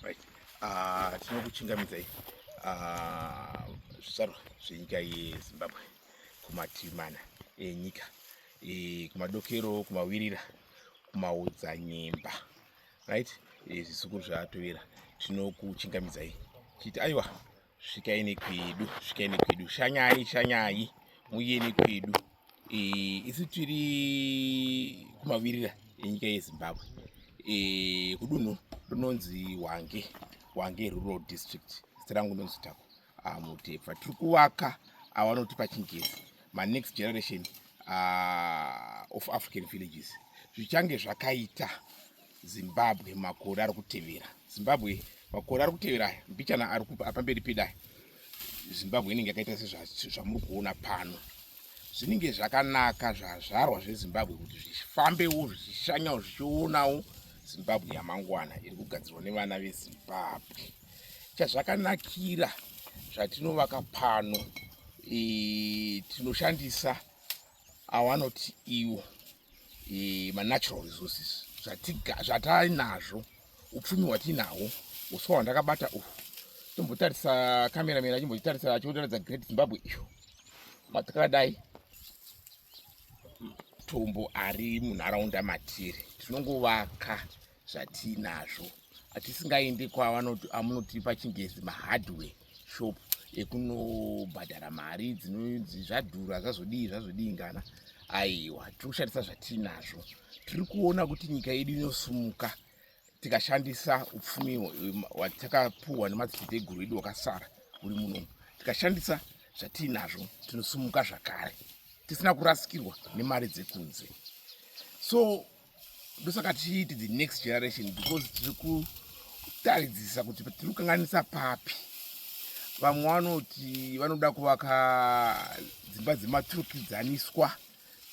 Right. Uh, tinokuchingamidzai ah, zvizvarwa uh, zvenyika yezimbabwe kumativi mana enyika e, kumadokero kumawirira kumaodzanyemba right e, zvisukuru zvatovera tinokuchingamidzai chiti aiwa svikai nekwedu svikai nekwedu shanyai shanyai muye nekwedu eh, isu tiri kumavirira enyika yezimbabwe eh, kudunhu rinonzi wange wange rural district zita rangu ndonzi tako ah, mutepfa tiri kuvaka avanoti pachingezi manext generation ah, of african villages zvichange zvakaita Zimbabwe makore ari kutevera Zimbabwe makore ari kutevera aya mbichana ari pamberi pedai Zimbabwe inenge yakaita sezvamuri kuona pano zvinenge zvakanaka zvazvarwa zvezimbabwe kuti zvifambewo zvichishanyawo zvichionawo zimbabwe yamangwana iri kugadzirwa nevana vezimbabwe chazvakanakira zvatinovaka pano e, tinoshandisa awanoti iwo e, manatural resources zvatainazvo upfumi hwatiinahwo uswa hwandakabata uhu tombotarisa kamera mera chimbotitarisa chiotaradza great zimbabwe iyo matakadai matombo ari munharaunda matiri tinongovaka zvatiinazvo atisingaendi kwavanoti pachingezi mahardware shop ekunobhadhara mari dzinonzi zvadhura zvazodii zvazodii ngana aiwa tiri kushandisa zvatiinazvo tiri kuona kuti nyika yedu inosumuka tikashandisa upfumi watakapuhwa nemadziteteguru edu wakasara uri muno tikashandisa zvatiinazvo tinosumuka zvakare tisina kurasikirwa nemari dzekunze so ndosaka tichiiti the next generation because tiri kutaridzisa kuti tiri kukanganisa papi vamwe vanoti vanoda kuvaka dzimba dzematurikidzaniswa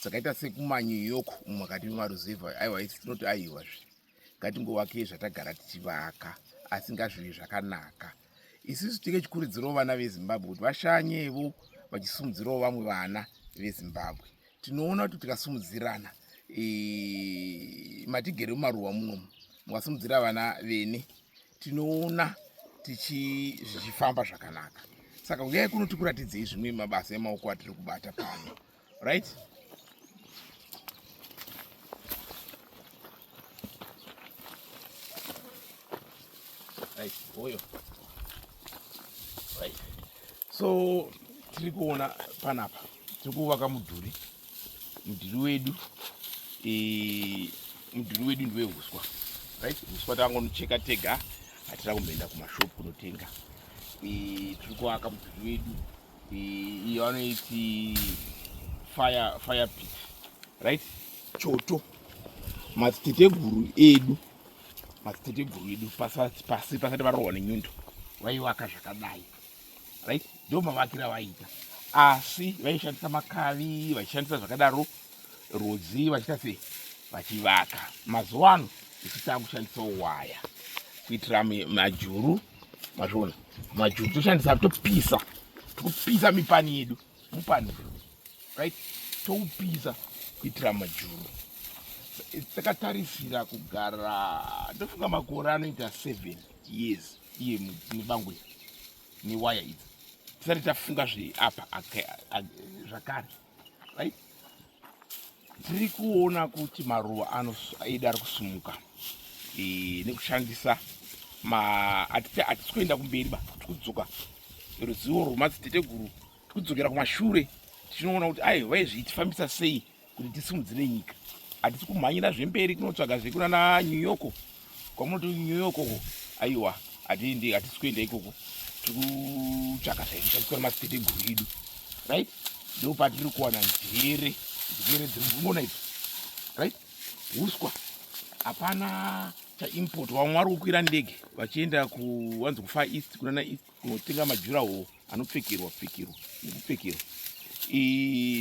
dzakaita sekumanyu yoko umu makati memaruzevha aiwa isi tinoti aiwazve ngatingovakei zvatagara tichivaka asi ngazvive zvakanaka isusu tinge chikurudzirawo vana vezimbabwe kuti vashanyevo vachisumudzirawo vamwe vana vezimbabwe tinoona kuti tikasumudzirana e, matigere mumaruwa munomu mukasumudzira vana vene tinoona tichizvichifamba zvakanaka saka uyai kuno tikuratidzei zvimwe mabasa emaoko atiri kubata pano right right oyo right so tiri kuona panapa tiri kuvaka mudhuri mudhuri wedu e, mudhuri wedu ndeweuswa right uswa takangonocheka tega hatina kumboenda kumashopu kunotenga e, tiri kuvaka mudhuri wedu iyo anoiti fire fire pit right choto madziteteguru edu madziteteguru edu pasati pasi pasati varohwa nenyundo vaivaka zvakadai right ndo mavakira vaita asi vaishandisa makavi vachishandisa zvakadaro rudzi vachiita sei vachivaka mazuva ano tichitaa kushandisawo waya kuitira majuru mazviona majuru toshandisa topisa tokupisa mipani yedu mupani right toupisa kuitira majuru takatarisira kugara ndofunga makore anoita seven years iye nebango iri newaya idzi tisati tafunga zveapa zvakare right? tiri kuona kuti maruva aida ari kusumuka e, nekushandisa hatisi kuenda kumberi ba tiri kudzoka ruzivo rwemadziteteguru tiri kudzokera kumashure tichinoona kuti ai vaizvii tifambisa sei kuti tisimudzire nyika hatisi kumhanyira zvemberi kunotsvaga zvekunana new yorko kwamunoti new york uko aiwa hatiendi hatisi kuenda ikoko tiri kutsvaka zvaikushandiswa nemasiteguru edu right ndo patiri kuwana njere njere dziri kungona idzo right uswa hapana chaimport vamwe vari kukwira ndege vachienda kuwanzi kufar east kunana east kunotenga majura hoo anopfekerwa pfekerwa nekupfekerwa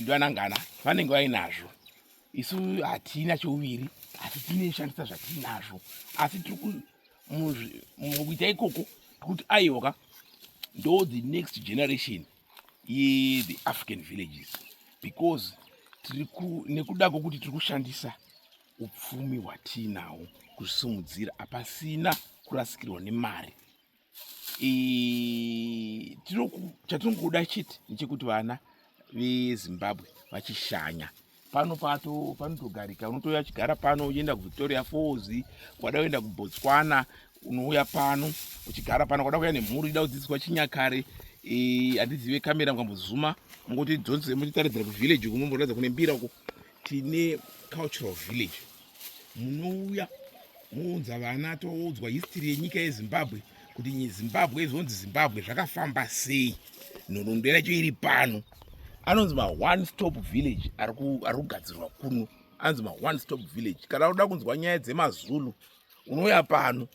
ndoanangana vanenge vainazvo isu hatina chouviri asi tine shandisa zvatinazvo asi tiri mukuita ikoko tikuti aiwaka ndo the next generation yethe african villages because nekuda kwokuti tiri kushandisa upfumi hwatiinawo kuzvisimudzira hapasina kurasikirwa nemari chatinongoda chete ndechekuti vana vezimbabwe vachishanya pano pato panotogarika unotouya chigara pano uchienda kuvictoria falls wada kuenda kubotswana unouya pano uchigara pano kwada kuya nemhuri ida kudzidziswa chinyakare handizive kamera mukambozuma mungoti dzonse mutitaridzira kuvillage uku mumboratidza kune mbira uko tine cultural village munouya mounza vana toudzwa history yenyika yezimbabwe kuti zimbabwe izonzi zimbabwe zvakafamba sei nhoroondo yacho iri pano anonzi maone stop village ari kugadzirwa kuno anonzi maone stop village kana unoda kunzwa nyaya dzemazulu unouya pano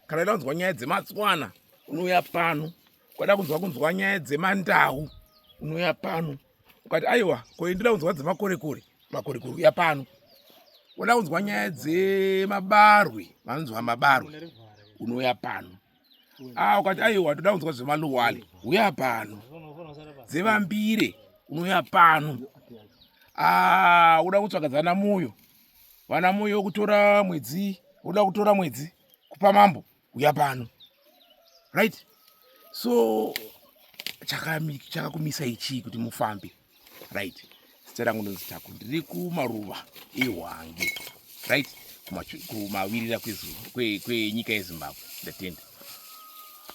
kana unoda kunzwa nyaya dzematswana unouya pano ukada kunzwa kunzwa nyaya dzemandau unouya pano ukati aiwa koindira kunzwa dzemakorekore makorekore uya pano unoda kunzwa nyaya dzemabarwe vanonzwa mabarwe unouya pano a ah, ukati aiwa toda kunzwa zvemaluwale uya pano dzevambire unouya pano a ah, uda kutsvaga dzana muyo vana muyo kutora mwedzi uda kutora mwedzi kupa mambo uya pano right so chakakumisa ichii kuti mufambe right zita rangu ndonzi tako ndiri kumaruva ehwange right kumawirira kwenyika yezimbabwe ndatenda